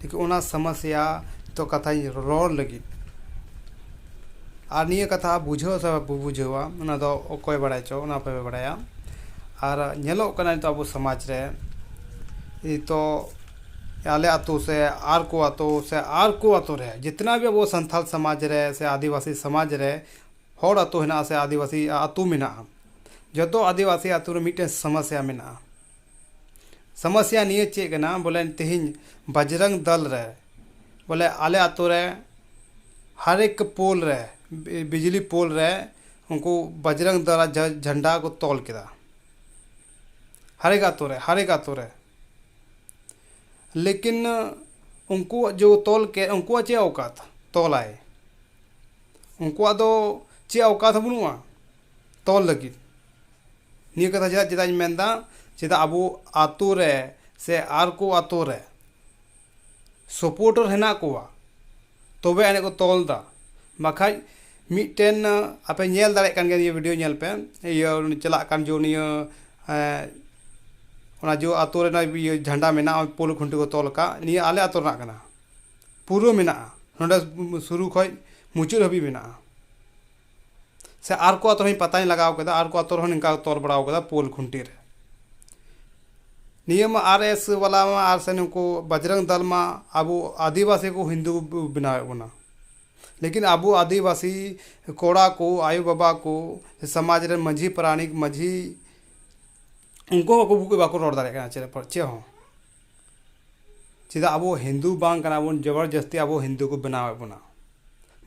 ᱴᱷᱤᱠ ᱚᱱᱟ ᱥᱟᱢᱟᱥᱤᱭᱟ ᱛᱚ ᱠᱟᱛᱷᱟᱧ ᱨᱚᱲ ᱞᱟᱹᱜᱤᱫ ᱟᱨ ᱱᱤᱭᱟᱹ ᱠᱟᱛᱷᱟ ᱵᱩᱡᱷᱟᱹᱣ ᱥᱮ ᱵᱟᱵᱚ ᱵᱩᱡᱷᱟᱹᱣᱟ ᱚᱱᱟ ᱫᱚ ᱚᱠᱚᱭ ᱵᱟᱲᱟᱭ ᱪᱚ ᱚᱱᱟ ᱟᱯᱮ ᱯᱮ ᱵᱟᱲᱟᱭᱟ ᱟᱨ ᱧᱮᱞᱚᱜ ᱠᱟᱱᱟ ᱱᱤᱛᱚᱜ ᱟᱵᱚ ᱥᱚᱢᱟᱡᱽ ᱨᱮ ᱱᱤᱛᱚᱜ ᱟᱞᱮ ᱟᱛᱳ ᱥᱮ ᱟᱨ ᱠᱚ ᱟᱛᱳ ᱥᱮ ᱟᱨ ᱠᱚ ᱟᱛᱳ ᱨᱮ ᱡᱤᱛᱱᱟ ᱵᱷᱤ ᱟᱵᱚ ᱥᱟᱱᱛᱟᱲ ᱥᱚᱢᱟᱡᱽ ᱨᱮ ᱥᱮ ᱟᱹᱫᱤᱵᱟᱹᱥᱤ ᱥᱚᱢᱟᱡᱽ ᱨᱮ ᱦᱚᱲ ᱟᱛᱳ ᱦᱮᱱᱟᱜᱼᱟ ᱥᱮ ᱟᱹᱫᱤᱵᱟᱹᱥᱤ ᱟᱛᱳ ᱢᱮᱱᱟᱜᱼᱟ ᱡᱚᱛᱚ ᱟᱹᱫᱤᱵᱟᱹᱥᱤ ᱟᱛᱳ ᱨᱮ ᱢᱤᱫᱴᱮᱱ ᱥᱟᱢᱟᱥᱤᱭᱟ ᱢᱮᱱᱟᱜᱼᱟ ᱥᱚᱢᱚᱥᱥᱟ ᱱᱤᱭᱟᱹ ᱪᱮᱫ ᱠᱟᱱᱟ ᱵᱚᱞᱮ ᱛᱮᱦᱮᱧ ᱵᱟᱡᱽᱨᱚᱝ ᱫᱚᱞ ᱨᱮ ᱵᱚᱞᱮ ᱟᱞᱮ ᱟᱛᱳ ᱨᱮ ᱦᱟᱨ ᱮᱠ ᱯᱳᱞ ᱨᱮ ᱵᱤᱡᱽᱞᱤ ᱯᱳᱞ ᱨᱮ ᱩᱱᱠᱩ ᱵᱟᱡᱽᱨᱚᱝ ᱫᱚᱞ ᱟᱜ ᱡᱷᱮᱱᱰᱟ ᱠᱚ ᱛᱚᱞ ᱠᱮᱫᱟ ᱦᱟᱨ ᱮᱠ ᱟᱛᱳ ᱨᱮ ᱦᱟᱨ ᱮᱠ ᱟᱛᱳ ᱨᱮ ᱞᱮᱠᱤᱱ ᱩᱱᱠᱩ ᱡᱮ ᱠᱚ ᱛᱚᱞ ᱠᱮᱫ ᱩᱱᱠᱩᱣᱟᱜ ᱪᱮᱫ ᱚᱣᱠᱟᱛ ᱛᱚᱞᱟᱭ ᱩᱱᱠᱩᱣᱟᱜ ᱫᱚ ᱪᱮᱫ ᱚᱣᱠᱟᱛ ᱦᱚᱸ ᱵᱟᱹᱱᱩᱜᱼᱟ ᱛᱚᱞ ᱞᱟᱹᱜᱤᱫ ᱱᱤᱭᱟᱹ ᱠᱟᱛᱷᱟ ᱪᱮᱫᱟᱜ ᱪᱮᱫᱟᱜ ᱤᱧ ᱢᱮᱱᱫᱟ ᱪᱮᱫᱟᱜ ᱟᱵᱚ ᱟᱹᱛᱩ ᱨᱮ ᱥᱮ ᱟᱨ ᱠᱚ ᱟᱹᱛᱩ ᱨᱮ ᱥᱟᱯᱳᱨᱴᱟᱨ ᱦᱮᱱᱟᱜ ᱠᱚᱣᱟ ᱛᱚᱵᱮ ᱟᱹᱱᱤᱡ ᱠᱚ ᱛᱚᱞ ᱫᱟ ᱵᱟᱠᱷᱟᱡ ᱢᱤᱫᱴᱮᱱ ᱟᱯᱮ ᱧᱮᱞ ᱫᱟᱲᱮᱭᱟᱜ ᱠᱟᱱ ᱜᱮᱭᱟ ᱱᱤᱭᱟᱹ ᱵᱷᱤᱰᱭᱳ ᱧᱮᱞ ᱯᱮ ᱤᱭᱟᱹ ᱪᱟᱞᱟᱜ ᱠᱟᱱ ᱡᱚᱦᱚᱜ ᱱᱤᱭᱟᱹ ᱚᱱᱟ ᱡᱚᱦᱚᱜ ᱟᱹᱛᱩ ᱨᱮᱱᱟᱜ ᱤᱭᱟᱹ ᱡᱷᱟᱱᱰᱟ ᱢᱮᱱᱟᱜᱼᱟ ᱯᱳᱞ ᱠᱷᱩᱱᱴᱤ ᱠᱚ ᱛᱚᱞ ᱠᱟᱜ ᱱᱤᱭᱟᱹ ᱟᱞᱮ ᱟᱹᱛᱩ ᱨᱮᱱᱟᱜ ᱠᱟᱱᱟ ᱯᱩᱨᱟᱹ ᱢᱮᱱᱟᱜᱼᱟ ᱱᱚᱰᱮ ᱥᱩᱨᱩ ᱠᱷᱚᱡ ᱢᱩᱪᱟᱹᱫ ᱦᱟᱹᱵᱤᱡ ᱢᱮᱱᱟᱜᱼᱟ ᱥᱮ ᱟᱨ ᱠᱚ ᱟᱛᱳ ᱨᱮᱦᱚᱸ ᱯᱟᱛᱟᱧ ᱞᱟᱜᱟᱣ ᱠᱮᱫᱟ ᱟᱨ ᱠᱚ ᱟᱛᱳ ᱨᱮᱦᱚᱸ ᱱᱤᱝᱠᱟ ᱠᱚ ᱛᱚᱞ ᱵᱟᱲᱟᱣ ᱠᱟᱫᱟ ᱯᱳᱞ ᱠᱷᱩᱱᱴᱤ ᱨᱮ ᱱᱤᱭᱟᱹ ᱢᱟ ᱟᱨ ᱮᱥ ᱵᱟᱞᱟ ᱢᱟ ᱟᱨ ᱥᱮ ᱱᱩᱠᱩ ᱵᱟᱡᱽᱨᱚᱝ ᱫᱚᱞ ᱢᱟ ᱟᱵᱚ ᱟᱹᱫᱤᱵᱟᱹᱥᱤ ᱠᱚ ᱦᱤᱱᱫᱩ ᱠᱚ ᱵᱮᱱᱟᱣᱮᱫ ᱵᱚᱱᱟ ᱞᱮᱠᱤᱱ ᱟᱵᱚ ᱟᱹᱫᱤᱵᱟᱹᱥᱤ ᱠᱚᱲᱟ ᱠᱚ ᱟᱭᱳ ᱵᱟᱵᱟ ᱠᱚ ᱥᱚᱢᱟᱡᱽ ᱨᱮᱱ ᱢᱟᱹᱡᱷᱤ ᱯᱟᱨᱟᱱᱤᱠ ᱢᱟᱹᱡᱷᱤ ᱩᱱᱠᱩ ᱦᱚᱸ ᱟᱠᱚ ᱵᱟᱠᱚ ᱨᱚᱲ ᱫᱟᱲᱮᱭᱟᱜ ᱠᱟᱱᱟ ᱪᱮᱫ ᱦᱚᱸ ᱪᱮᱫᱟᱜ ᱟᱵᱚ ᱦᱤᱱᱫᱩ ᱵᱟᱝ ᱠᱟᱱᱟ ᱵᱚᱱ ᱡᱚᱵᱚᱨ ᱡᱚᱥᱛᱤ ᱟᱵᱚ ᱦᱤᱱᱫᱩ ᱠᱚ ᱵᱮᱱᱟᱣᱮᱫ ᱵᱚᱱᱟ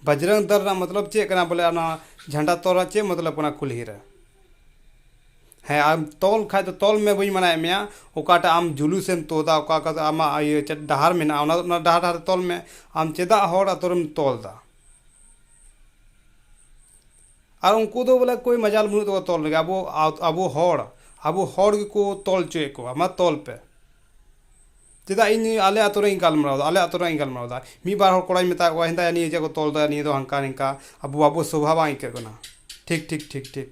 ᱵᱟᱡᱽᱨᱚᱝ ᱫᱚᱞ ᱨᱮᱱᱟᱜ ᱢᱚᱛᱞᱚᱵ ᱪᱮᱫ ᱠᱟᱱᱟ ᱵᱚᱞᱮ ᱚᱱᱟ ᱡᱷᱟᱱᱰᱟ ᱛᱚᱞ ᱨᱮᱱᱟᱜ ᱪᱮᱫ ᱢᱚᱛᱞᱚᱵ ᱠᱟᱱᱟ ᱠᱩᱞᱦᱤ ᱨᱮ ᱦᱮᱸ ᱟᱨ ᱛᱚᱞ ᱠᱷᱟᱱ ᱫᱚ ᱛᱚᱞ ᱢᱮ ᱵᱟᱹᱧ ᱢᱟᱱᱟᱭᱮᱫ ᱢᱮᱭᱟ ᱚᱠᱟᱴᱟᱜ ᱟᱢ ᱡᱩᱞᱩᱥ ᱮᱢ ᱛᱩᱫᱟ ᱚᱠᱟ ᱚᱠᱟ ᱫᱚ ᱟᱢᱟᱜ ᱤᱭᱟᱹ ᱪᱮᱫ ᱰᱟᱦᱟᱨ ᱢᱮᱱᱟᱜᱼᱟ ᱚᱱᱟ ᱚᱱᱟ ᱰᱟᱦᱟᱨ ᱰᱟᱦᱟᱨ ᱛᱮ ᱛᱚᱞ ᱢᱮ ᱟᱢ ᱪᱮᱫᱟᱜ ᱦᱚᱲ ᱟᱛᱳ ᱨᱮᱢ ᱛᱚᱞ ᱮᱫᱟ ᱟᱨ ᱩᱱᱠᱩ ᱫᱚ ᱵᱚᱞᱮ ᱠᱳᱭ ᱢᱟᱡᱟᱞ ᱵᱟᱹᱱᱩᱜ ᱛᱟᱠᱚᱣᱟ ᱛᱚᱞ ᱨᱮᱜᱮ ᱟᱵᱚ ᱟᱵᱚ ᱦᱚᱲ ᱟᱵᱚ ᱦᱚᱲ ᱜᱮᱠᱚ ᱛᱚᱞ ᱦᱚᱪᱚᱭᱮᱫ ᱠᱚᱣᱟ ᱢᱟ ᱛᱚᱞ ᱯᱮ ᱪᱮᱫᱟᱜ ᱤᱧ ᱟᱞᱮ ᱟᱹᱛᱩ ᱨᱮᱭᱟᱜ ᱤᱧ ᱜᱟᱞᱢᱟᱨᱟᱣᱫᱟ ᱟᱞᱮ ᱟᱹᱛᱩ ᱨᱮᱭᱟᱜ ᱤᱧ ᱜᱟᱞᱢᱟᱨᱟᱣᱫᱟ ᱢᱤᱫ ᱵᱟᱨ ᱦᱚᱲ ᱠᱚᱲᱟᱧ ᱢᱮᱛᱟᱫ ᱠᱚᱣᱟ ᱦᱮᱸᱫᱟᱭᱟ ᱱᱤᱭᱟᱹ ᱪᱮᱫ ᱠᱚ ᱛᱚᱞᱫᱟ ᱱᱤᱭᱟᱹ ᱫᱚ ᱦᱟᱱᱠᱟ ᱱᱤᱝᱠᱟ ᱟᱵᱚ ᱟᱵᱚ ᱥᱳᱵᱷᱟ ᱵᱟᱝ ᱟᱹᱭᱠᱟᱹᱜ ᱠᱟᱱᱟ ᱴᱷᱤᱠ ᱴᱷᱤᱠ ᱴᱷᱤᱠ ᱴᱷᱤᱠ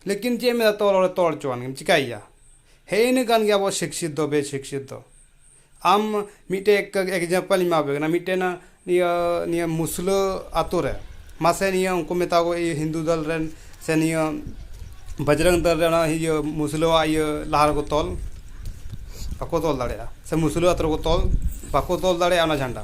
ᱞᱮᱠᱤᱱ ᱪᱮᱫ ᱮᱢ ᱢᱮᱱᱟ ᱛᱚᱞ ᱦᱚᱲᱮ ᱛᱚᱞ ᱦᱚᱪᱚᱣᱟᱱ ᱜᱮᱭᱟ ᱪᱤᱠᱟᱹᱭᱮᱭᱟ ᱦᱮᱸᱜᱼᱮ ᱱᱤᱭᱟᱹ ᱠᱟᱱ ᱜᱮᱭᱟ ᱟᱵᱚᱣᱟᱜ ᱥᱤᱠᱠᱷᱤᱛ ᱫᱚ ᱵᱮᱼᱥᱤᱠᱠᱷᱤᱛ ᱫᱚ ᱟᱢ ᱢᱤᱫᱴᱮᱡ ᱮᱠᱡᱟᱢᱯᱮᱞ ᱤᱧ ᱮᱢᱟᱯᱮ ᱠᱟᱱᱟ ᱢᱤᱫᱴᱮᱱ ᱱᱤᱭᱟᱹ ᱱᱤᱭᱟᱹ ᱢᱩᱥᱞᱟᱹ ᱟᱛᱳ ᱨᱮ ᱢᱟᱥᱮ ᱱᱤᱭᱟᱹ ᱩᱱᱠᱩ ᱢᱮᱛᱟ ᱠᱚ ᱤᱭᱟᱹ ᱦᱤᱱᱫᱩ ᱫᱚᱞ ᱨᱮᱱ ᱥᱮ ᱱᱤᱭᱟᱹ ᱵᱟᱡᱽᱨᱚᱝ ᱫᱚᱞ ᱨᱮᱱ ᱤᱭᱟᱹ ᱢᱩᱥᱞᱟᱹᱣᱟᱜ ᱤᱭᱟᱹ ᱞᱟᱦᱟ ᱨᱮᱠᱚ ᱛᱚᱞ ᱵᱟᱠᱚ ᱛᱚᱞ ᱫᱟᱲᱮᱭᱟᱜᱼᱟ ᱥᱮ ᱢᱩᱥᱞᱟᱹ ᱟᱛᱳ ᱨᱮᱠᱚ ᱛᱚᱞ ᱵᱟᱠᱚ ᱛᱚᱞ ᱫᱟᱲᱮᱭᱟᱜᱼᱟ ᱚᱱᱟ ᱡᱷᱟᱱᱰᱟ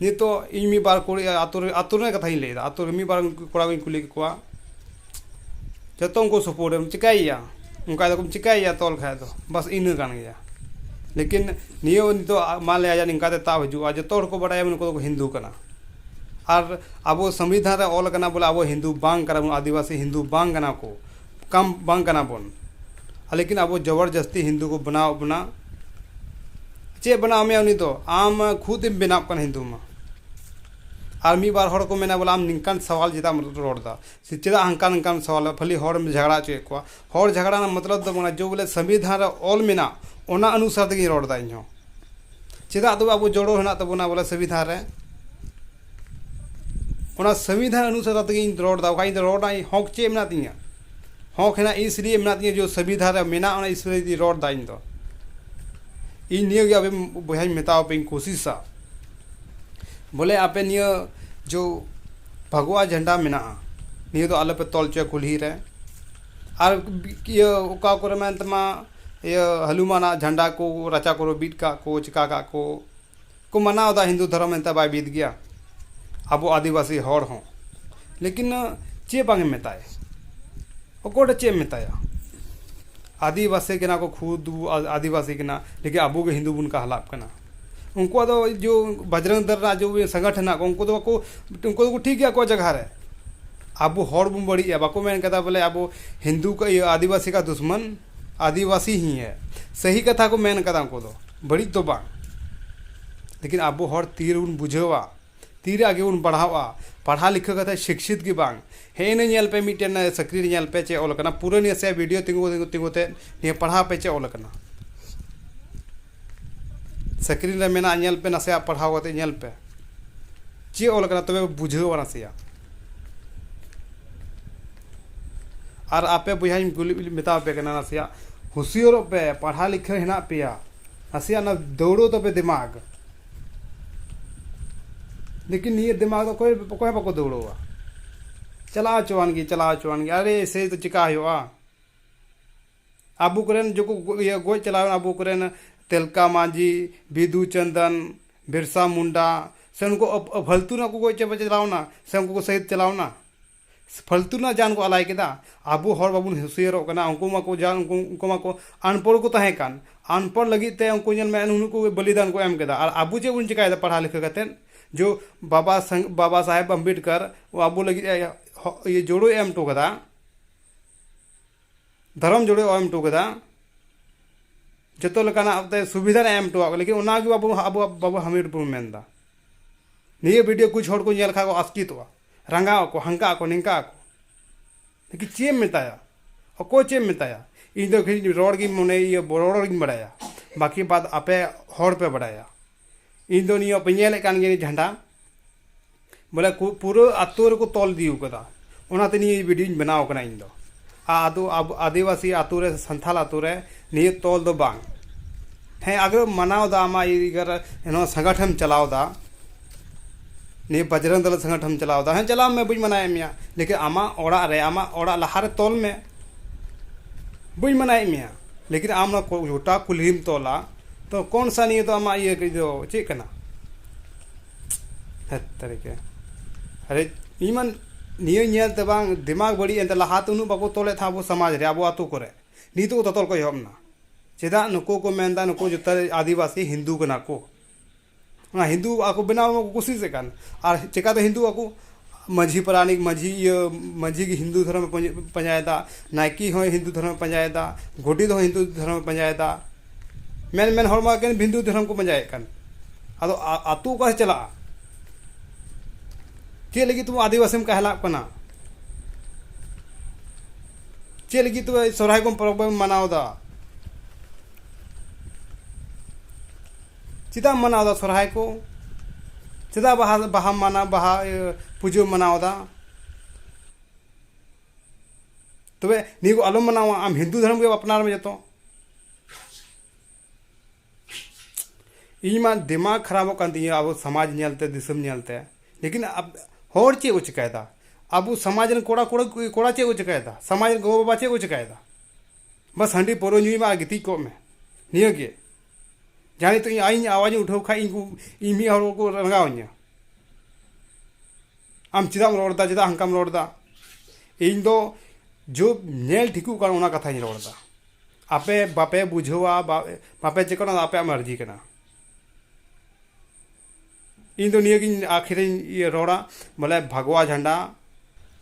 ᱱᱤᱛᱚᱜ ᱤᱧ ᱢᱤᱫ ᱵᱟᱨ ᱠᱩᱲᱤ ᱟᱛᱳ ᱨᱮ ᱟᱛᱳ ᱨᱮᱱᱟᱜ ᱠᱟᱛᱷᱟᱧ ᱞᱟᱹᱭᱮᱫᱟ ᱟᱛᱳ ᱨᱮ ᱢᱤᱫ ᱵᱟᱨ ᱠᱚᱲᱟ ᱠᱚᱧ ᱠᱩᱞᱤ ᱠᱮᱫ ᱠᱚᱣᱟ ᱡᱚᱛᱚ ᱩᱱᱠᱩ ᱥᱟᱯᱳᱨᱴ ᱮᱢ ᱪᱤᱠᱟᱹᱭᱮᱭᱟ ᱚᱱᱠᱟ ᱫᱚ ᱪᱤᱠᱟᱹᱭᱮᱭᱟ ᱛᱚᱞ ᱠᱷᱟᱱ ᱫᱚ ᱵᱟᱥ ᱤᱱᱟᱹ ᱠᱟᱱ ᱜᱮᱭᱟ ᱞᱮᱠᱤᱱ ᱱᱤᱭᱟᱹ ᱱᱤᱛᱚᱜ ᱢᱟᱱᱞᱮᱭᱟ ᱡᱮ ᱱᱤᱝᱠᱟ ᱛᱮ ᱛᱟᱵ ᱦᱤᱡᱩᱜᱼᱟ ᱡᱚᱛᱚ ᱦᱚᱲ ᱠᱚ ᱵᱟᱲᱟᱭᱟ ᱱᱩᱠᱩ ᱫᱚᱠᱚ ᱦᱤᱱᱫᱩ ᱠᱟᱱᱟ ᱟᱨ ᱟᱵᱚ ᱥᱚᱝᱵᱤᱫᱷᱟᱱ ᱨᱮ ᱚᱞ ᱠᱟᱱᱟ ᱵᱚᱞᱮ ᱟᱵᱚ ᱦᱤᱱᱫᱩ ᱵᱟᱝ ᱠᱟᱱᱟ ᱵᱚᱱ ᱟᱹᱫᱤᱵᱟᱹᱥᱤ ᱦᱤᱱᱫᱩ ᱵᱟᱝ ᱠᱟᱱᱟ ᱠᱚ ᱠᱟᱱ ᱵᱟᱝ ᱠᱟᱱᱟ ᱵᱚᱱ ᱞᱮᱠᱤᱱ ᱟᱵᱚ ᱡᱚᱵᱚᱨ ᱡᱟᱥᱛᱤ ᱦᱤᱱᱫᱩ ᱠᱚ ᱵᱮᱱᱟᱣᱮᱫ ᱵᱚᱱᱟ ᱪᱮᱫ ᱮ ᱵᱮᱱᱟᱣ ᱢᱮᱭᱟ ᱩᱱᱤ ᱫᱚ ᱟᱢ ᱠᱷᱩᱫ ᱮᱢ ᱵᱮᱱᱟᱜ ᱠᱟᱱᱟ ᱦᱤᱱᱫᱩ ᱢᱟ ᱟᱨ ᱢᱤᱫ ᱵᱟᱨ ᱦᱚᱲ ᱠᱚ ᱢᱮᱱᱟ ᱵᱚᱞᱮ ᱟᱢ ᱱᱤᱝᱠᱟᱱ ᱥᱟᱶᱟᱞ ᱪᱮᱫᱟᱜ ᱮᱢ ᱨᱚᱲ ᱫᱟ ᱥᱮ ᱪᱮᱫᱟᱜ ᱦᱟᱱᱠᱟ ᱱᱤᱝᱠᱟᱢ ᱥᱟᱶᱟᱞ ᱫᱟ ᱠᱷᱟᱞᱤ ᱦᱚᱲᱮᱢ ᱡᱷᱟᱜᱽᱲᱟ ᱦᱚᱪᱚᱭᱮᱫ ᱠᱚᱣᱟ ᱦᱚᱲ ᱡᱷᱟᱜᱽᱲᱟ ᱨᱮᱱᱟᱜ ᱢᱚᱛᱞᱚᱵ ᱫᱚ ᱵᱟᱝ ᱡᱮ ᱵᱚᱞᱮ ᱥᱚᱝᱵᱤᱫᱷᱟᱱ ᱨᱮ ᱚᱞ ᱢᱮᱱᱟᱜ ᱚᱱᱟ ᱚᱱᱩᱥᱟᱨ ᱛᱮᱜᱮᱧ ᱨᱚᱲ ᱫᱟ ᱤᱧ ᱦᱚᱸ ᱪᱮᱫᱟᱜ ᱛᱚᱵᱮ ᱟᱵᱚ ᱡᱚᱲᱚ ᱦᱮᱱᱟᱜ ᱛᱟᱵᱚᱱᱟ ᱵᱚᱞᱮ ᱥᱚᱝᱵᱤᱫᱷᱟᱱ ᱨᱮ ᱚᱱᱟ ᱥᱚᱝᱵᱤᱫᱷᱟᱱ ᱚᱱᱩᱥᱟᱨ ᱠᱟᱛᱮ ᱜᱤᱧ ᱨᱚᱲ ᱮᱫᱟ ᱵᱟᱠᱷᱟᱡ ᱤᱧ ᱫᱚ ᱨᱚᱲ ᱨᱮᱱᱟᱜ ᱤᱧ ᱦᱚᱸᱠ ᱪᱮᱫ ᱢᱮᱱᱟᱜ ᱛᱤᱧᱟᱹ ᱦᱚᱸᱠ ᱦᱮᱱᱟᱜ ᱤᱥ ᱞᱤᱭᱮ ᱢᱮᱱᱟᱜ ᱛᱤᱧᱟᱹ ᱡᱮ ᱥᱚᱝᱵᱤᱫᱷᱟᱱ ᱨᱮ ᱢᱮᱱᱟᱜᱼᱟ ᱚᱱᱟ ᱤᱥ ᱞᱤᱭᱮ ᱜᱤᱧ ᱨᱚᱲ ᱮᱫᱟ ᱤᱧ ᱫᱚ ᱤᱧ ᱱᱤᱭᱟᱹ ᱜᱮ ᱟᱵᱮᱱ ᱵᱚᱭᱦᱟᱧ ᱢᱮᱛᱟᱣᱟᱯᱮᱧ ᱠᱩᱥᱤᱥᱟ ᱵᱚᱞᱮ ᱟᱯᱮ ᱱᱤᱭᱟᱹ ᱡᱚ ᱵᱷᱟᱜᱚᱣᱟ ᱡᱷᱮᱱᱰᱟ ᱢᱮᱱᱟᱜᱼᱟ ᱱᱤᱭᱟᱹ ᱫᱚ ᱟᱞᱚᱯᱮ ᱛᱚᱞ ᱦᱚᱪᱚᱭᱟ ᱠᱩᱞᱦᱤ ᱨᱮ ᱟᱨ ᱤᱭᱟᱹ ᱚᱠᱟ ᱠᱚᱨᱮ ᱢᱮᱱᱟᱜ ᱛᱟᱢᱟ ᱤᱭᱟᱹ ᱦᱟᱹᱞᱩᱢᱟᱱᱟᱜ ᱡᱷᱟᱱᱰᱟ ᱠᱚ ᱨᱟᱪᱟ ᱠᱚᱨᱮ ᱵᱤᱫ ᱠᱟᱜ ᱠᱚ ᱪᱤᱠᱟ ᱠᱟᱜ ᱠᱚ ᱠᱚ ᱢᱟᱱᱟᱣ ᱮᱫᱟ ᱦᱤᱱᱫᱩ ᱫᱷᱚᱨᱚᱢ ᱮᱱᱛᱮ ᱵᱟᱭ ᱵᱤᱫ ᱜᱮᱭᱟ ᱟᱵᱚ ᱟᱹᱫᱤᱵᱟᱹᱥᱤ ᱦᱚᱲ ᱦᱚᱸ ᱞᱮᱠᱤᱱ ᱪᱮᱫ ᱵᱟᱝ ᱮᱢ ᱢᱮᱛᱟᱭᱟ ᱚᱠᱚᱭ ᱫᱚ ᱪᱮᱫ ᱮᱢ ᱢᱮᱛᱟᱭᱟ ᱟᱹᱫᱤᱵᱟᱹᱥᱤ ᱠᱟᱱᱟ ᱠᱚ ᱠᱷᱩᱫ ᱟᱹᱫᱤᱵᱟᱹᱥᱤ ᱠᱟᱱᱟ ᱞᱮᱠᱤᱱ ᱟᱵᱚ ᱜᱮ ᱦᱤᱱᱫᱩ ᱵᱚᱱ ᱠᱟᱦᱞᱟᱜ ᱠᱟᱱᱟ ᱩᱱᱠᱩᱣᱟᱜ ᱫᱚ ᱡᱳ ᱵᱟᱡᱽᱨᱚᱝ ᱫᱚᱞ ᱨᱮᱱᱟᱜ ᱡᱳ ᱥᱚᱝᱜᱚᱴᱷᱚᱱ ᱦᱮᱱᱟᱜ ᱠᱚ ᱩᱱᱠᱩ ᱫᱚ ᱵᱟᱠᱚ ᱩᱱᱠᱩ ᱫᱚᱠᱚ ᱴᱷᱤᱠ ᱜᱮᱭᱟ ᱟᱠᱚᱣᱟᱜ ᱡᱟᱭᱜᱟ ᱨᱮ ᱟᱵᱚ ᱦᱚᱲ ᱵᱚᱱ ᱵᱟᱹᱲᱤᱡ ᱮᱫᱟ ᱵᱟᱠᱚ ᱢᱮᱱ ᱠᱟᱫᱟ ᱵᱚᱞᱮ ᱟᱵᱚ ᱦᱤᱱᱫᱩ ᱠᱚ ᱤᱭᱟᱹ ᱟᱹᱫᱤᱵᱟᱹᱥᱤ ᱠᱟ ᱫᱩᱥᱢᱟᱱ ᱟᱹᱫᱤᱵᱟᱹᱥᱤ ᱦᱤ ᱦᱮ ᱥᱟᱹᱦᱤ ᱠᱟᱛᱷᱟ ᱠᱚ ᱢᱮᱱ ᱠᱟᱫᱟ ᱩᱱᱠᱩ ᱫᱚ ᱵᱟᱹᱲᱤᱡ ᱫᱚ ᱵᱟᱝ ᱞᱮᱠᱤᱱ ᱟᱵᱚ ᱦᱚᱲ ᱛᱤ ᱨᱮᱵᱚᱱ ᱵᱩᱡᱷᱟᱹᱣᱟ ᱛᱤᱨᱮ ᱟᱜᱮ ᱵᱚᱱ ᱯᱟᱲᱦᱟᱣᱟ ᱯᱟᱲᱦᱟᱣ ᱞᱤᱠᱷᱟᱹᱣ ᱠᱟᱛᱮᱫ ᱥᱤᱪᱪᱷᱤᱛ ᱜᱮ ᱵᱟᱝ ᱦᱮᱸᱜᱼᱮ ᱱᱤᱭᱟᱹ ᱧᱮᱞ ᱯᱮ ᱢᱤᱫᱴᱮᱱ ᱪᱟᱹᱠᱨᱤ ᱨᱮ ᱧᱮᱞ ᱯᱮ ᱪᱮᱫ ᱚᱞ ᱠᱟᱱᱟ ᱯᱩᱨᱟᱹ ᱱᱟᱥᱮᱭᱟᱜ ᱵᱷᱤᱰᱤᱭᱳ ᱛᱤᱸᱜᱩ ᱛᱤᱸᱜᱩ ᱛᱮ ᱱᱤᱭᱟᱹ ᱯᱟᱲᱦᱟᱣ ᱯᱮ ᱪᱮᱫ ᱚᱞ ᱠᱟᱱᱟ ᱥᱠᱨᱤᱱ ᱨᱮ ᱢᱮᱱᱟᱜᱼᱟ ᱧᱮᱞ ᱯᱮ ᱱᱟᱥᱮᱭᱟᱜ ᱯᱟᱲᱦᱟᱣ ᱠᱟᱛᱮ ᱧᱮᱞ ᱯᱮ ᱪᱮᱫ ᱚᱞ ᱠᱟᱱᱟ ᱛᱚᱵᱮ ᱵᱩᱡᱷᱟᱹᱣᱟ ᱱᱟᱥᱮᱭᱟᱜ ᱟᱨ ᱟᱯᱮ ᱵᱚᱭᱦᱟᱧ ᱠᱩᱞᱤ ᱢᱮᱛᱟ ᱯᱮ ᱠᱟᱱᱟ ᱱᱟᱥᱮᱭᱟᱜ ᱦᱩᱥᱤᱭᱟᱹᱨᱚᱜ ᱯᱮ ᱯᱟᱲᱦᱟᱣ ᱞᱮᱠᱷᱟᱱ ᱦᱮᱱᱟᱜ ᱯᱮᱭᱟ ᱱᱟᱥᱮᱭᱟᱜ ᱚᱱᱟ ᱫᱟᱹᱲᱚᱜ ᱛᱟᱯᱮ ᱫᱤᱢᱟᱜᱽ ᱞᱮᱠᱤᱱ ᱱᱤᱭᱟᱹ ᱫᱤᱢᱟᱜᱽ ᱫᱚ ᱚᱠᱚᱭ ᱚᱠᱚᱭ ᱵᱟᱠᱚ ᱫᱟᱹᱲᱚᱜᱼᱟ ᱪᱟᱞᱟᱣ ᱦᱚᱪᱚᱣᱟᱱ ᱜᱮ ᱪᱟᱞᱟᱣ ᱦᱚᱪᱚᱣᱟᱱ ᱜᱮ ᱟᱨᱮ ᱮᱭᱥᱮ ᱫᱚ ᱪᱮᱠᱟ ᱦᱩᱭᱩᱜᱼᱟ ᱟᱵᱚ ᱠᱚᱨᱮᱱ ᱡᱚᱠᱚ ᱜᱚᱡ ᱪᱟᱞᱟᱣᱮᱱ ᱟᱵᱚ ᱠᱚᱨᱮᱱ ᱛᱮᱞᱠᱟ ᱢᱟᱹᱡᱷᱤ ᱵᱤᱫᱩ ᱪᱟᱱᱫᱟᱱ ᱵᱤᱨᱥᱟ ᱢᱩᱱᱰᱟ ᱥᱮ ᱱᱩᱠᱩ ᱯᱷᱟᱹᱞᱛᱩ ᱨᱮᱱᱟᱜ ᱠᱚ ᱜᱚᱡ ᱪᱟᱵᱟ ᱪᱟᱞᱟᱣᱮᱱᱟ ᱥᱮ ᱩᱱᱠᱩ ᱠᱚ ᱥᱟᱹᱦᱤᱛ ᱪᱟᱞᱟᱣᱮᱱᱟ ᱯᱷᱟᱹᱞᱛᱩ ᱨᱮᱱᱟᱜ ᱡᱟᱱ ᱠᱚ ᱟᱞᱟᱭ ᱠᱮᱫᱟ ᱟᱵᱚ ᱦᱚᱲ ᱵᱟᱵᱚᱱ ᱦᱩᱥᱭᱟᱹᱨᱚᱜ ᱠᱟᱱᱟ ᱩᱱᱠᱩ ᱢᱟᱠᱚ ᱡᱟᱱ ᱩᱱᱠᱩ ᱢᱟᱠᱚ ᱟᱱᱯᱚᱲ ᱠᱚ ᱛᱟᱦᱮᱸ ᱠᱟᱱ ᱟᱱᱯᱚᱲ ᱞᱟᱹᱜᱤᱫ ᱛᱮ ᱩᱱᱠᱩ ᱧᱮᱞ ᱢᱮ ᱱᱩᱱᱟᱹᱜ ᱠᱚ ᱵᱚᱞᱤᱫᱟᱱ ᱠᱚ ᱮᱢ ᱠᱮᱫᱟ ᱟᱨ ᱟᱵᱚ ᱪᱮᱫ ᱵᱚᱱ ᱪᱤᱠᱟᱹᱭᱮᱫᱟ ᱯᱟᱲᱦᱟᱣ ᱞᱤᱠᱷᱟᱹᱣ ᱠᱟᱛᱮ ᱡᱳ ᱵᱟᱵᱟ ᱥᱟᱝ ᱵᱟᱵᱟ ᱥᱟᱦᱮᱵᱽ ᱟᱢᱵᱮᱫᱽᱠᱟᱨ ᱟᱵᱚ ᱞᱟᱹᱜᱤᱫ ᱮ ᱡᱳᱲᱳᱭ ᱮᱢ ᱦᱚᱴᱚ ᱠᱟᱫᱟ ᱫᱷᱚᱨᱚᱢ ᱡᱩᱲᱤ ᱮᱢ ᱦᱚᱴᱚ ᱠᱟᱫᱟ ᱡᱚᱛᱚ ᱞᱮᱠᱟᱱᱟᱜ ᱛᱮ ᱥᱩᱵᱤᱫᱷᱟ ᱮᱢ ᱦᱚᱴᱚᱣᱟᱜ ᱠᱚ ᱞᱮᱠᱤᱱ ᱚᱱᱟᱜᱮ ᱟᱵᱚ ᱟᱵᱚ ᱵᱟᱵᱚ ᱦᱟᱢᱮᱴ ᱵᱚᱱ ᱢᱮᱱᱫᱟ ᱱᱤᱭᱟᱹ ᱵᱷᱤᱰᱤᱭᱳ ᱠᱩᱪ ᱦᱚᱲ ᱠᱚ ᱧᱮᱞ ᱠᱷᱟᱱ ᱠᱚ ᱟᱥᱠᱮᱛᱚᱜᱼᱟ ᱨᱟᱸᱜᱟᱣ ᱟᱠᱚ ᱦᱟᱱᱠᱟᱜ ᱟᱠᱚ ᱱᱤᱝᱠᱟᱜ ᱟᱠᱚ ᱞᱮᱠᱤᱱ ᱪᱮᱫ ᱮᱢ ᱢᱮᱛᱟᱭᱟ ᱚᱠᱚᱭ ᱪᱮᱫ ᱮᱢ ᱢᱮᱛᱟᱭᱟ ᱤᱧ ᱫᱚ ᱠᱷᱟᱹᱞᱤ ᱨᱚᱲ ᱜᱤᱧ ᱢᱚᱱᱮ ᱤᱭᱟᱹ ᱨᱚᱲ ᱜᱤᱧ ᱵᱟᱲᱟᱭᱟ ᱵᱟᱹᱠᱤ ᱵᱟᱫ ᱟᱯᱮ ᱦᱚᱲ ᱯᱮ ᱵᱟᱲᱟᱭᱟ ᱤᱧ ᱫᱚ ᱱᱤᱭᱟᱹ ᱯᱮ ᱧᱮᱞᱮᱫ ᱠᱟᱱ ᱜᱮᱭᱟ ᱡᱷᱟᱱᱰᱟ ᱵᱚᱞᱮ ᱯᱩᱨᱟᱹ ᱟᱛᱳ ᱨᱮᱠᱚ ᱛᱚᱞ ᱤᱫᱤ ᱟᱠᱟᱫᱟ ᱚᱱᱟᱛᱮ ᱱᱤᱭᱟᱹ ᱵᱷᱤᱰᱤᱭᱳᱧ ᱵᱮᱱᱟᱣ ᱠᱟᱱᱟ ᱤᱧ ᱫᱚ ᱟᱫᱚ ᱟᱹᱫᱤᱵᱟᱹᱥᱤ ᱟᱛᱳ ᱨᱮ ᱥᱟᱱᱛᱟᱲ ᱟᱛᱳ ᱨᱮ ᱱᱤᱭᱟᱹ ᱛᱚᱞ ᱫᱚ ᱵᱟᱝ ᱦᱮᱸ ᱟᱜᱮ ᱢᱟᱱᱟᱣ ᱫᱟ ᱟᱢᱟᱜ ᱤᱭᱟᱹ ᱨᱮ ᱱᱚᱣᱟ ᱥᱟᱝᱜᱟᱴᱷᱮᱢ ᱪᱟᱞᱟᱣ ᱫᱟ ᱱᱤᱭᱟᱹ ᱵᱟᱡᱽᱨᱚᱝ ᱫᱚᱞ ᱥᱟᱝᱜᱟᱴᱷᱮᱢ ᱪᱟᱞᱟᱣ ᱫᱟ ᱦᱮᱸ ᱪᱟᱞᱟᱜ ᱢᱮ ᱵᱟᱹᱧ ᱢᱟᱱᱟᱭᱮᱫ ᱢᱮᱭᱟ ᱞᱮᱠᱤᱱ ᱟᱢᱟᱜ ᱚᱲᱟᱜ ᱨᱮ ᱟᱢᱟᱜ ᱚᱲᱟᱜ ᱞᱟᱦᱟ ᱨᱮ ᱛᱚᱞ ᱢᱮ ᱵᱟᱹᱧ ᱢᱟᱱᱟᱭᱮᱫ ᱢᱮᱭᱟ ᱞᱮᱠᱤᱱ ᱟᱢ ᱱᱚᱣᱟ ᱜᱚᱴᱟ ᱠᱩᱞᱦᱤᱢ ᱛᱚᱞᱟ ᱛᱚ ᱠᱚᱱ ᱥᱟ ᱱᱤᱭᱟᱹ ᱫᱚ ᱟᱢᱟᱜ ᱤᱭᱟᱹ ᱠᱟᱹᱡ ᱫᱚ ᱪᱮᱫ ᱠᱟᱱᱟ ᱦᱮᱸ ᱛᱟᱹᱨᱤᱠᱮ ᱟᱨᱮ ᱤᱧ ᱢᱟ ᱱᱤᱭᱟᱹ ᱧᱮᱞ ᱛᱮ ᱵᱟᱝ ᱫᱤᱢᱟᱜᱽ ᱵᱟᱹᱲᱤᱡ ᱮᱱ ᱛᱤᱧᱟᱹ ᱞᱟᱦᱟᱛᱮ ᱩᱱᱟᱹᱜ ᱵᱟᱠᱚ ᱛᱚᱞᱮᱫ ᱛᱟᱦᱮᱸᱫ ᱟᱵᱚ ᱥᱚᱢᱟᱡᱽ ᱨᱮ ᱟᱵᱚ ᱟᱛᱳ ᱠᱚᱨᱮ ᱱᱤᱛᱚᱜ ᱛᱚᱛᱚᱞ ᱠᱚ ᱮᱦᱚᱵ ᱮᱱᱟ ᱪᱮᱫᱟᱜ ᱱᱩᱠᱩ ᱠᱚ ᱢᱮᱱᱫᱟ ᱱᱩᱠᱩ ᱡᱚᱛᱚ ᱟᱹᱫᱤᱵᱟᱹᱥᱤ ᱦᱤᱱᱫᱩ ᱠᱟᱱᱟ ᱠᱚ ᱚᱱᱟ ᱦᱤᱱᱫᱩ ᱟᱠᱚ ᱵᱮᱱᱟᱣ ᱠᱚ ᱠᱩᱥᱤᱥᱮᱜ ᱠᱟᱱ ᱟᱨ ᱪᱤᱠᱟᱹᱛᱮ ᱦᱤᱱᱫᱩ ᱟᱠᱚ ᱢᱟᱹᱡᱷᱤ ᱯᱟᱨᱟᱱᱤᱠ ᱢᱟᱹᱡᱷᱤ ᱤᱭᱟᱹ ᱢᱟᱹᱡᱷᱤ ᱜᱮ ᱦᱤᱱᱫᱩ ᱫᱷᱚᱨᱚᱢ ᱠᱚ ᱯᱟᱸᱡᱟᱭᱮᱫᱟ ᱱᱟᱭᱠᱮ ᱦᱚᱸᱭ ᱦᱤᱱᱫᱩ ᱫᱷᱚᱨᱚᱢᱮ ᱯᱟᱸᱡᱟᱭᱮᱫᱟ ᱜᱳᱰᱮᱛ ᱦᱚᱸ ᱦᱤᱱᱫᱩ ᱫᱷᱚᱨᱚᱢᱮ ᱯᱟᱸᱡᱟᱭᱮᱫᱟ ᱢᱮᱱ ᱢᱮᱱ ᱦᱚᱲ ᱢᱟ ᱮᱠᱮᱱ ᱦᱤᱱᱫᱩ ᱫᱷᱚᱨᱚᱢ ᱠᱚ ᱯᱟᱸᱡᱟᱭᱮᱫ ᱠᱟᱱ ᱟᱫᱚ ᱟᱛᱳ ᱚᱠᱟᱨᱮ ᱪᱟᱞᱟᱜᱼᱟ ᱪᱮᱫ ᱞᱟᱹᱜᱤᱫ ᱛᱮᱵᱚᱱ ᱟᱹᱫᱤᱵᱟᱹᱥᱤᱢ ᱠᱟᱭᱦᱮᱞᱟᱜ ᱠᱟᱱᱟ ᱪᱮᱫ ᱞᱟᱹᱜᱤᱫ ᱛᱮ ᱥᱚᱨᱦᱟᱭ ᱵᱚᱱ ᱯᱚᱨᱚᱵᱽ ᱵᱚᱱ ᱢᱟᱱᱟᱣᱫᱟ ᱪᱮᱫᱟᱜ ᱮᱢ ᱢᱟᱱᱟᱣ ᱮᱫᱟ ᱥᱚᱨᱦᱟᱭ ᱠᱚ ᱪᱮᱫᱟᱜ ᱵᱟᱦᱟ ᱵᱟᱦᱟᱢ ᱢᱟᱱᱟᱣ ᱵᱟᱦᱟ ᱯᱩᱡᱟᱹᱢ ᱢᱟᱱᱟᱣ ᱮᱫᱟ ᱛᱚᱵᱮ ᱱᱤᱭᱟᱹ ᱠᱚ ᱟᱞᱚᱢ ᱢᱟᱱᱟᱣᱟ ᱟᱢ ᱦᱤᱱᱫᱩ ᱫᱷᱚᱨᱚᱢ ᱜᱮ ᱟᱯᱱᱟᱨ ᱢᱮ ᱡᱚᱛᱚ ᱤᱧ ᱢᱟ ᱫᱤᱢᱟᱜᱽ ᱠᱷᱟᱨᱟᱯᱚᱜ ᱠᱟᱱ ᱛᱤᱧᱟᱹ ᱟᱵᱚ ᱥᱚᱢᱟᱡᱽ ᱧᱮᱞᱛᱮ ᱫᱤᱥᱚᱢ ᱧᱮᱞᱛᱮ ᱞᱮᱠᱤᱱ ᱦᱚᱲ ᱪᱮᱫ ᱠᱚ ᱪᱤᱠᱟᱹᱭᱮᱫᱟ ᱟᱵᱚ ᱥᱚᱢᱟᱡᱽ ᱨᱮᱱ ᱠᱚᱲᱟ ᱠᱩᱲᱤ ᱠᱚᱲᱟ ᱪᱮᱫ ᱠᱚ ᱪᱤᱠᱟᱹᱭᱮᱫᱟ ᱥᱚᱢᱟᱡᱽ ᱨᱮᱱ ᱜᱚᱜᱚᱼᱵᱟᱵᱟ ᱪᱮᱫ ᱠᱚ ᱪᱤᱠᱟᱹᱭᱮᱫᱟ ᱵᱟᱥ ᱦᱟᱺᱰᱤ ᱯᱟᱹᱣᱨᱟᱹ ᱧᱩᱭ ᱢᱮ ᱟᱨ ᱜᱤᱛᱤᱡ ᱠᱚᱜ ᱢᱮ ᱱᱤᱭᱟᱹᱜᱮ ᱡᱟᱦᱟᱸ ᱱᱤᱛᱚᱜ ᱤᱧ ᱟᱭᱤᱧ ᱟᱣᱟᱡᱽ ᱤᱧ ᱩᱴᱷᱟᱹᱣ ᱠᱷᱟᱱ ᱤᱧᱠᱚ ᱤᱧ ᱢᱤᱫ ᱦᱚᱲ ᱠᱚ ᱨᱟᱸᱜᱟᱣ ᱤᱧᱟᱹ ᱟᱢ ᱪᱮᱫᱟᱜ ᱮᱢ ᱨᱚᱲᱫᱟ ᱪᱮᱫᱟᱜ ᱦᱟᱱᱠᱟᱢ ᱨᱚᱲᱫᱟ ᱤᱧ ᱫᱚ ᱡᱩᱜᱽ ᱧᱮᱞ ᱴᱷᱤᱠᱚᱜ ᱠᱟᱱ ᱚᱱᱟ ᱠᱟᱛᱷᱟᱧ ᱨᱚᱲᱫᱟ ᱟᱯᱮ ᱵᱟᱯᱮ ᱵᱩᱡᱷᱟᱹᱣᱟ ᱵᱟᱯᱮ ᱪᱮᱫ ᱠᱟᱱᱟ ᱟᱯᱮᱭᱟᱜ ᱢᱟᱨᱡᱤ ᱠᱟᱱᱟ ᱤᱧ ᱫᱚ ᱱᱤᱭᱟᱹ ᱜᱤᱧ ᱟᱹᱠᱷᱤᱨ ᱤᱧ ᱨᱚᱲᱟ ᱵᱚᱞᱮ ᱵᱷᱟᱜᱽᱣᱟ ᱡᱷᱟᱱᱰᱟ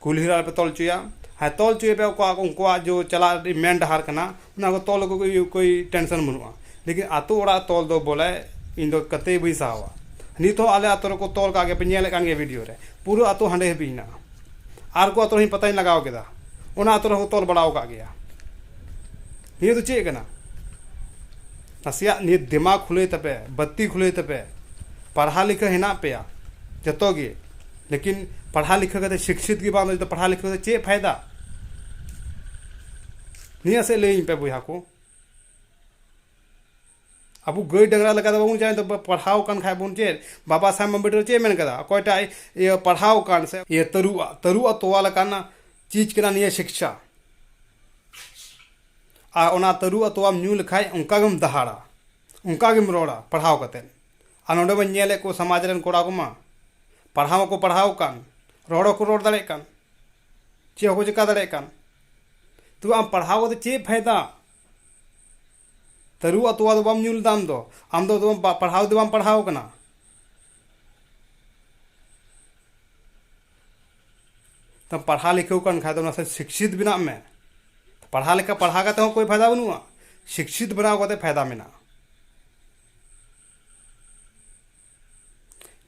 ᱠᱩᱞᱦᱤ ᱨᱮ ᱟᱞᱚ ᱯᱮ ᱛᱚᱞ ᱦᱚᱪᱚᱭᱟ ᱟᱨ ᱛᱚᱞ ᱦᱚᱪᱚᱭ ᱯᱮ ᱚᱠᱟ ᱩᱱᱠᱩᱣᱟᱜ ᱡᱮ ᱪᱟᱞᱟᱜ ᱞᱟᱹᱜᱤᱫ ᱢᱮᱱ ᱰᱟᱦᱟᱨ ᱠᱟᱱᱟ ᱚᱱᱟ ᱠᱚ ᱛᱚᱞ ᱟᱹᱜᱩ ᱠᱟᱛᱮ ᱠᱳᱭ ᱴᱮᱱᱥᱮᱱ ᱵᱟᱹᱱᱩᱜᱼᱟ ᱞᱮᱠᱤᱱ ᱟᱛᱳ ᱚᱲᱟᱜ ᱛᱚᱞ ᱫᱚ ᱵᱚᱞᱮ ᱤᱧ ᱫᱚ ᱠᱟᱛᱮᱭ ᱵᱟᱹᱧ ᱥᱟᱦᱟᱣᱟ ᱱᱤᱛ ᱦᱚᱸ ᱟᱞᱮ ᱟᱛᱳ ᱨᱮᱠᱚ ᱛᱚᱞ ᱠᱟᱜ ᱜᱮᱭᱟ ᱯᱮ ᱧᱮᱞᱮᱜ ᱠᱟᱱ ᱜᱮᱭᱟ ᱵᱷᱤᱰᱭᱳ ᱨᱮ ᱯᱩᱨᱟᱹ ᱟᱛᱳ ᱦᱟᱸᱰᱮ ᱦᱟᱹᱵᱤᱡ ᱢᱮᱱᱟᱜᱼᱟ ᱟᱨ ᱠᱚ ᱟᱛᱳ ᱨᱮ ᱯᱟᱛᱟᱧ ᱞᱟᱜᱟᱣ ᱠᱮᱫᱟ ᱚᱱᱟ ᱟᱛᱳ ᱨᱮᱦᱚᱸ ᱠᱚ ᱛᱚᱞ ᱵᱟᱲᱟᱣ ᱠᱟᱜ ᱜᱮᱭᱟ ᱱᱤᱭᱟᱹ ᱫᱚ ᱪᱮᱫ ᱠᱟᱱᱟ ᱱᱟᱥᱮᱭᱟᱜ ᱱᱤᱛ ᱫᱮᱢᱟᱜᱽ ᱠᱷᱩᱞᱟᱹᱭ ᱛᱟᱯᱮ ᱵᱟᱹᱛᱛᱤ ᱠᱷᱩᱞᱟᱹᱭ ᱛᱟᱯᱮ ᱯᱟᱲᱦᱟ ᱞᱤᱠᱷᱟᱹ ᱦᱮᱱᱟᱜ ᱯᱮᱭᱟ ᱡᱚᱛᱚ ᱜᱮ ᱞᱮᱠᱤᱱ ᱯᱟᱲᱦᱟ ᱞᱤᱠᱷᱟᱹ ᱠᱟᱛᱮ ᱥᱤᱠᱪᱷᱤᱛ ᱜᱮ ᱵᱟᱝ ᱛᱟᱦᱮᱸ ᱯᱟᱲᱦᱟ ᱞᱤᱠᱷᱟᱹ ᱠᱟᱛᱮ ᱪᱮᱫ ᱯᱷᱟᱭᱫᱟ ᱱᱤᱭᱟᱹ ᱥᱮᱫ ᱞᱟᱹᱭᱟᱹᱧ ᱯᱮ ᱵᱚᱭᱦᱟ ᱠᱚ ᱟᱵᱚ ᱜᱟᱹᱭ ᱰᱟᱝᱨᱟ ᱞᱮᱠᱟ ᱫᱚ ᱵᱟᱵᱚᱱ ᱪᱟᱞᱟᱜᱼᱟ ᱱᱤᱛᱚᱜ ᱯᱟᱲᱦᱟᱣ ᱠᱟᱱ ᱠᱷᱟᱡ ᱵᱚᱱ ᱪᱮᱫ ᱵᱟᱵᱟ ᱥᱟᱦᱮᱵᱽ ᱟᱢᱵᱮᱫᱽᱠᱚᱨ ᱪᱮᱫ ᱮ ᱢᱮᱱ ᱠᱟᱫᱟ ᱚᱠᱚᱭ ᱴᱟᱜ ᱤᱭᱟᱹ ᱯᱟᱲᱦᱟᱣ ᱠᱟᱱ ᱥᱮ ᱛᱟᱹᱨᱩᱵᱽ ᱟᱜ ᱛᱟᱹᱨᱩᱵᱽ ᱟᱜ ᱛᱚᱣᱟ ᱞᱮᱠᱟᱱᱟᱜ ᱪᱤᱡᱽ ᱠᱟᱱᱟ ᱱᱤᱭᱟᱹ ᱥᱤᱠᱪᱷᱟ ᱟᱨ ᱚᱱᱟ ᱛᱟᱹᱨᱩᱵ ᱟᱜ ᱛᱚᱣᱟᱢ ᱧᱩ ᱞᱮᱠᱷᱟᱡ ᱚᱱᱠᱟ ᱜᱮᱢ ᱫᱟᱦᱟᱲᱟ ᱚᱱᱠᱟ ᱜᱮᱢ ᱨᱚᱲᱟ ᱯᱟᱲᱦᱟᱣ ᱠᱟᱛᱮ ᱟᱨ ᱱᱚᱰᱮ ᱢᱟᱧ ᱧᱮᱞᱮᱫ ᱠᱚ ᱥᱚᱢᱟᱡᱽ ᱨᱮᱱ ᱠᱚᱲᱟ ᱠᱚᱢᱟ ᱯᱟᱲᱦᱟᱣ ᱢᱟᱠᱚ ᱯᱟᱲᱦᱟᱣ ᱠᱟᱱ ᱨᱚᱲ ᱦᱚᱸᱠᱚ ᱨᱚᱲ ᱫᱟᱲᱮᱭᱟᱜ ᱠᱟᱱ ᱪᱮᱫ ᱦᱚᱸᱠᱚ ᱪᱤᱠᱟᱹ ᱫᱟᱲᱮᱭᱟᱜ ᱠᱟᱱ ᱛᱚ ᱟᱢ ᱯᱟᱲᱦᱟᱣ ᱠᱟᱛᱮ ᱪᱮᱫ ᱯᱷᱟᱭᱫᱟ ᱛᱟᱹᱨᱩᱵ ᱟᱜ ᱛᱚᱣᱟ ᱫᱚ ᱵᱟᱢ ᱧᱩ ᱞᱮᱫᱟ ᱟᱢ ᱫᱚ ᱟᱢ ᱫᱚ ᱯᱟᱲᱦᱟᱣ ᱫᱚ ᱵᱟᱢ ᱯᱟᱲᱦᱟᱣ ᱠᱟᱱᱟ ᱛᱚ ᱯᱟᱲᱦᱟᱣ ᱞᱮᱠᱷᱟᱹᱣ ᱠᱟᱱ ᱠᱷᱟᱡ ᱫᱚ ᱱᱟᱥᱮ ᱥᱤᱠᱥᱤᱛ ᱵᱮᱱᱟᱜ ᱢᱮ ᱯᱟᱲᱦᱟᱣ ᱞᱮᱠᱟ ᱯᱟᱲᱦᱟᱣ ᱠᱟᱛᱮ ᱦᱚᱸ ᱠᱳᱭ ᱯᱷᱟᱭᱫᱟ ᱵᱟᱹᱱᱩᱜᱼᱟ ᱥᱤᱠᱥᱤᱛ ᱵᱮᱱᱟᱣ ᱠᱟᱛᱮ ᱯᱷᱟᱭᱫᱟ ᱢᱮᱱᱟᱜᱼᱟ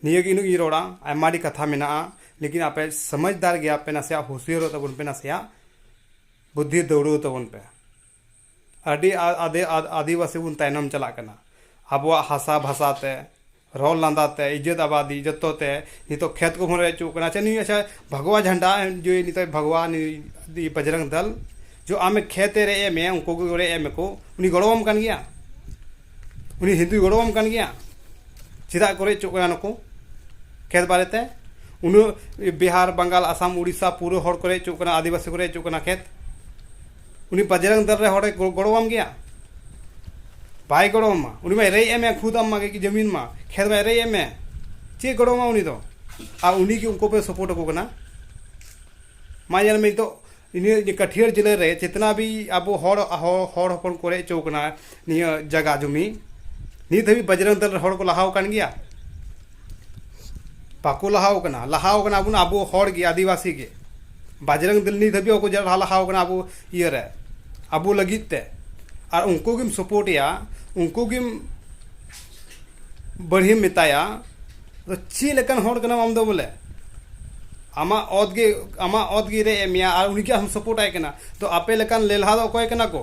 ᱱᱤᱭᱟᱹ ᱜᱮ ᱤᱧ ᱨᱚᱲᱟ ᱟᱭᱢᱟ ᱟᱹᱰᱤ ᱠᱟᱛᱷᱟ ᱢᱮᱱᱟᱜᱼᱟ ᱞᱮᱠᱤᱱ ᱟᱯᱮ ᱥᱚᱢᱚᱡᱽᱫᱟᱨ ᱜᱮᱭᱟ ᱯᱮ ᱱᱟᱥᱮᱭᱟᱜ ᱦᱩᱥᱤᱭᱟᱹᱨᱚᱜ ᱛᱟᱵᱚᱱ ᱯᱮ ᱱᱟᱥᱮᱭᱟᱜ ᱵᱩᱫᱽᱫᱷᱤ ᱫᱟᱹᱣᱲᱟᱹᱣ ᱛᱟᱵᱚᱱ ᱯᱮ ᱟᱹᱰᱤ ᱟᱹᱫᱤ ᱟᱹᱫᱤᱵᱟᱹᱥᱤ ᱵᱚᱱ ᱛᱟᱭᱱᱚᱢ ᱪᱟᱞᱟᱜ ᱠᱟᱱᱟ ᱟᱵᱚᱣᱟᱜ ᱦᱟᱥᱟ ᱵᱷᱟᱥᱟ ᱛᱮ ᱨᱚᱲ ᱞᱟᱸᱫᱟ ᱛᱮ ᱤᱡᱡᱚᱛ ᱟᱵᱟᱫᱤ ᱡᱚᱛᱚ ᱛᱮ ᱱᱤᱛᱚᱜ ᱠᱷᱮᱛ ᱠᱚᱵᱚᱱ ᱨᱮᱡ ᱦᱚᱪᱚᱜ ᱠᱟᱱᱟ ᱟᱪᱪᱷᱟ ᱱᱩᱭ ᱟᱪᱪᱷᱟ ᱵᱷᱟᱜᱽᱣᱟ ᱡᱷᱟᱱᱰᱟ ᱡᱮ ᱱᱤᱛᱚᱜ ᱵᱷᱟᱜᱽᱣᱟ ᱱᱩᱭ ᱵᱟᱡᱽᱨᱚᱝ ᱫᱚᱞ ᱡᱮ ᱟᱢᱮ ᱠᱷᱮᱛᱮ ᱨᱮᱡ ᱮᱫ ᱢᱮᱭᱟ ᱩᱱᱠᱩ ᱠᱚ ᱨᱮᱡ ᱮᱫ ᱢᱮᱠᱚ ᱩᱱᱤ ᱜᱚᱲᱚ ᱟᱢ ᱠᱟᱱ ᱜᱮᱭᱟ ᱩᱱᱤ ᱦᱤᱱᱫᱩᱭ ᱜᱚᱲᱚ ᱟᱢ ᱠᱟᱱ ᱜᱮᱭᱟ ᱪᱮᱫᱟᱜ ᱠᱚ ᱨᱮᱡ ᱦᱚᱪᱚᱜ ᱠᱟᱱᱟ ᱱᱩᱠᱩ ᱠᱷᱮᱛ ᱵᱟᱨᱮ ᱛᱮ ᱩᱱᱟᱹᱜ ᱵᱤᱦᱟᱨ ᱵᱟᱝᱜᱟᱞ ᱟᱥᱟᱢ ᱩᱲᱤᱥᱥᱟ ᱯᱩᱨᱟᱹ ᱦᱚᱲ ᱠᱚ ᱨᱮᱡ ᱦᱚᱪᱚᱜ ᱠᱟᱱᱟ ᱟᱹᱫᱤᱵᱟᱹᱥᱤ ᱠᱚ ᱨᱮᱡ ᱦᱚᱪᱚᱜ ᱠᱟᱱᱟ ᱠᱷᱮᱛ ᱩᱱᱤ ᱵᱟᱡᱨᱟᱝ ᱫᱟᱨ ᱨᱮ ᱦᱚᱲᱮ ᱜᱚᱲᱚᱣᱟᱢ ᱜᱮᱭᱟ ᱵᱟᱭ ᱜᱚᱲᱚᱣᱟᱢᱟ ᱩᱱᱤ ᱢᱟ ᱮᱨᱮᱭ ᱮᱢᱮ ᱠᱷᱩᱫ ᱟᱢ ᱢᱟ ᱡᱚᱢᱤᱱ ᱢᱟ ᱠᱷᱮᱛ ᱢᱟ ᱮᱨᱮᱭ ᱮᱢᱮ ᱪᱮᱫ ᱜᱚᱲᱚᱣᱟᱢᱟ ᱩᱱᱤ ᱫᱚ ᱟᱨ ᱩᱱᱤ ᱜᱮ ᱩᱱᱠᱩ ᱯᱮ ᱥᱚᱯᱳᱨᱴ ᱟᱠᱚ ᱠᱟᱱᱟ ᱢᱟ ᱧᱮᱞ ᱢᱮ ᱱᱤᱛᱚᱜ ᱤᱱᱟᱹ ᱠᱟᱹᱴᱷᱤᱭᱟᱹᱲ ᱡᱮᱞᱟᱹ ᱨᱮ ᱪᱮᱛᱱᱟ ᱵᱤ ᱟᱵᱚ ᱦᱚᱲ ᱦᱚᱲ ᱦᱚᱯᱚᱱ ᱠᱚ ᱨᱮᱡ ᱦᱚᱪᱚ ᱠᱟᱱᱟ ᱱᱤᱭᱟᱹ ᱡᱟᱭᱜᱟ ᱡᱚᱢᱤ ᱱᱤᱛ ᱫᱷᱟᱹᱵᱤᱡ ᱵᱟᱡᱨᱚᱝ ᱫᱚᱞ ᱦᱚᱲ ᱠᱚ ᱞᱟᱦᱟᱣ ᱠᱟᱱ ᱜᱮᱭᱟ ᱵᱟᱠᱚ ᱞᱟᱦᱟᱣ ᱠᱟᱱᱟ ᱞᱟᱦᱟᱣ ᱠᱟᱱᱟ ᱵᱚᱱ ᱟᱵᱚ ᱦᱚᱲ ᱜᱮ ᱟᱹᱫᱤᱵᱟᱹᱥᱤ ᱜᱮ ᱵᱟᱡᱨᱚᱝ ᱫᱚᱞ ᱱᱤᱛ ᱫᱷᱟᱹᱵᱤᱡ ᱵᱟᱠᱚ ᱞᱟᱦᱟᱣ ᱠᱟᱱᱟ ᱟᱵᱚ ᱤᱭᱟᱹ ᱨᱮ ᱟᱵᱚ ᱞᱟᱹᱜᱤᱫ ᱛᱮ ᱟᱨ ᱩᱱᱠᱩ ᱜᱮᱢ ᱥᱟᱯᱳᱨᱴ ᱮᱭᱟ ᱩᱱᱠᱩ ᱜᱮᱢ ᱵᱟᱹᱲᱦᱤᱢ ᱢᱮᱛᱟᱭᱟ ᱫᱚ ᱪᱮᱫ ᱞᱮᱠᱟᱱ ᱦᱚᱲ ᱠᱟᱱᱟᱢ ᱟᱢ ᱫᱚ ᱵᱚᱞᱮ ᱟᱢᱟᱜ ᱚᱛ ᱜᱮ ᱟᱢᱟᱜ ᱚᱛ ᱜᱮ ᱨᱮᱡ ᱮᱫ ᱢᱮᱭᱟ ᱟᱨ ᱩᱱᱤ ᱜᱮ ᱟᱢ ᱥᱟᱯᱳᱨᱴ ᱟᱭ ᱠᱟᱱᱟ ᱛᱚ ᱟᱯᱮ ᱞᱮᱠᱟᱱ ᱞᱮᱞᱦᱟ ᱫᱚ ᱚᱠᱚᱭ ᱠᱟᱱᱟ ᱠᱚ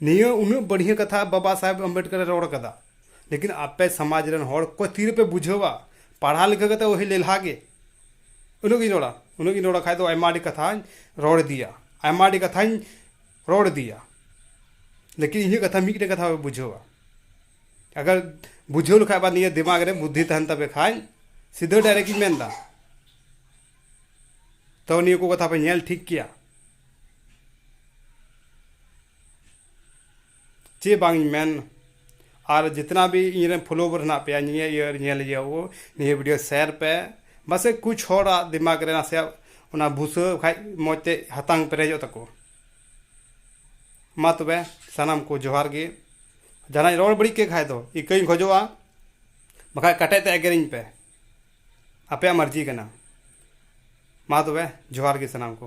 ᱱᱤᱭᱟᱹ ᱩᱱᱟᱹᱜ ᱵᱟᱹᱲᱦᱤᱭᱟᱹ ᱠᱟᱛᱷᱟ ᱵᱟᱵᱟ ᱥᱟᱦᱮᱵᱽ ᱟᱢᱵᱮᱰᱠᱚᱨ ᱮ ᱨᱚᱲ ᱠᱟᱫᱟ ᱞᱮᱠᱤᱱ ᱟᱯᱮ ᱥᱟᱢᱟᱡᱽ ᱨᱮᱱ ᱦᱚᱲ ᱚᱠᱚᱭ ᱛᱤ ᱨᱮᱯᱮ ᱵᱩᱡᱷᱟᱹᱣᱟ ᱯᱟᱲᱦᱟᱣ ᱞᱮᱠᱷᱟ ᱠᱟᱛᱮ ᱚᱦᱤ ᱞᱮᱞᱦᱟ ᱜᱮ ᱩᱱᱟᱹᱜ ᱜᱤᱧ ᱨᱚᱲᱟ ᱩᱱᱟᱹᱜ ᱜᱤᱧ ᱨᱚᱲ ᱠᱷᱟᱡ ᱫᱚ ᱟᱭᱢᱟ ᱟᱹᱰᱤ ᱠᱟᱛᱷᱟᱧ ᱨᱚᱲ ᱤᱫᱤᱭᱟ ᱟᱭᱢᱟ ᱟᱹᱰᱤ ᱠᱟᱛᱷᱟᱧ ᱨᱚᱲ ᱤᱫᱤᱭᱟ ᱞᱮᱠᱤᱱ ᱤᱧᱟᱹᱜ ᱠᱟᱛᱷᱟ ᱢᱤᱫᱴᱮᱡ ᱠᱟᱛᱷᱟ ᱵᱟᱯᱮ ᱵᱩᱡᱷᱟᱹᱣᱟ ᱟᱜᱟᱨ ᱵᱩᱡᱷᱟᱹᱣ ᱞᱮᱠᱷᱟᱡ ᱵᱟ ᱱᱤᱭᱟᱹ ᱫᱤᱢᱟᱜᱽ ᱨᱮ ᱵᱩᱫᱽᱫᱷᱤ ᱛᱟᱦᱮᱱ ᱛᱟᱯᱮ ᱠᱷᱟᱡ ᱥᱤᱫᱷᱟᱹ ᱰᱟᱭᱨᱮᱠᱴ ᱤᱧ ᱢᱮᱱᱫᱟ ᱛᱚ ᱱᱤᱭᱟᱹ ᱠᱚ ᱠᱟᱛᱷᱟ ᱯᱮ ᱧᱮᱞ ᱴᱷᱤᱠ ᱠᱮᱭᱟ ᱪᱮᱫ ᱵᱟᱝ ᱤᱧ ᱢᱮᱱ ᱟᱨ ᱡᱤᱛᱱᱟ ᱵᱷᱤ ᱤᱧ ᱨᱮᱱ ᱯᱷᱚᱞᱳᱣᱟᱨ ᱦᱮᱱᱟᱜ ᱯᱮᱭᱟ ᱱᱤᱭᱟᱹ ᱤᱭᱟᱹ ᱧᱮᱞ ᱤᱭᱟᱹ ᱠᱚ ᱱᱤᱭᱟᱹ ᱵᱷᱤᱰᱤᱭᱳ ᱥᱮᱭᱟᱨ ᱯᱮ ᱵᱟᱥᱮᱡ ᱠᱩᱪ ᱦᱚᱲᱟᱜ ᱫᱤᱢᱟᱜᱽ ᱨᱮ ᱱᱟᱥᱮᱭᱟᱜ ᱚᱱᱟ ᱵᱩᱥᱟᱹ ᱠᱷᱟᱡ ᱢᱚᱡᱽ ᱛᱮ ᱦᱟᱛᱟᱝ ᱯᱮᱨᱮᱡᱚᱜ ᱛᱟᱠᱚ ᱢᱟ ᱛᱚᱵᱮ ᱥᱟᱱᱟᱢ ᱠᱚ ᱡᱚᱦᱟᱨ ᱜᱮ ᱡᱟᱦᱟᱱᱟᱜ ᱤᱧ ᱨᱚᱲ ᱵᱟᱹᱲᱤᱡ ᱠᱮᱫ ᱠᱷᱟᱡ ᱫᱚ ᱤᱠᱟᱹᱧ ᱠᱷᱚᱡᱚᱜᱼᱟ ᱵᱟᱠᱷᱟᱡ ᱠᱟᱴᱟᱡ ᱛᱮ ᱮᱜᱮᱨᱤᱧ ᱯᱮ ᱟᱯᱮᱭᱟᱜ ᱢᱟᱨᱡᱤ ᱠᱟᱱᱟ ᱢᱟ ᱛᱚᱵᱮ ᱡᱚᱦᱟᱨ ᱜᱮ ᱥᱟᱱᱟᱢ ᱠᱚ